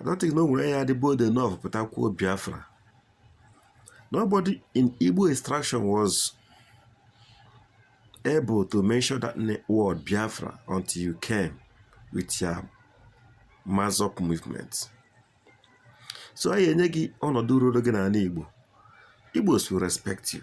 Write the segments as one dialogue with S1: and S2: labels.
S1: i don't think na o nwere onye dị bold enough pụta kwuo biafra nobody in igbo extraction was able to mention that word biafra until you came with your massob movement so anyị enye gị ọnọdụ ruru gị n'ala igbo igbos will respect you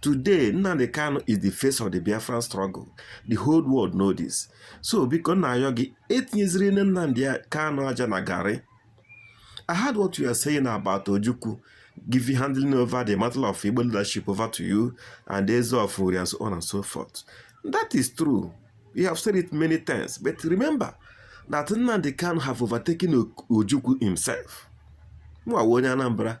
S1: Today, Nnamdi Kanu is the face of the Biafran struggle. The whole world know this. So, biko na ayọ gị etinyeziri nne Nnamdi Kanu aja na garị. I heard what you are saying about Ojukwu giving handling over the matter of Igbo leadership over to you and the Eze of Uri and so on and so forth. That is true. You have said it many times. But remember that Nnamdi Kanu have overtaken Ojukwu himself. Mwa onye Anambra.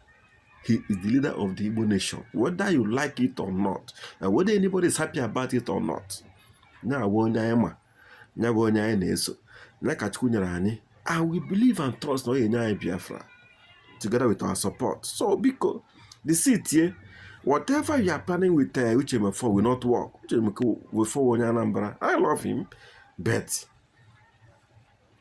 S1: He is the leader of the Igbo nation, whether you like it or not, and whether anybody is happy about it or not. Now, onye anyị ma, ya bụ onye anyị na-eso, ya ka Chukwu nyere anyị, and we believe and trust na ọ ga-enye anyị Biafra together with our support. So, biko, the seat here, whatever you are planning with uh, Uche Mefor will not work. Uche Mefor onye Anambra, I love him, but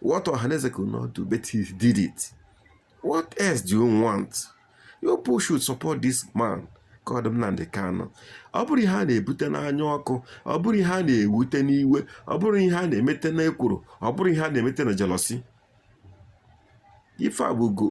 S1: What Ohaneze could not do, but he did it. What else do you want? You people should support this man called Nnamdi Kanu. Ọ bụrụ ihe a na-ebute n'anya ọkụ, ọ bụrụ ihe a na-ewute n'iwe, ọ bụrụ ihe a na-emete n'ekworo, ọ bụrụ ihe a na-emete na jealousy. Ife a bụ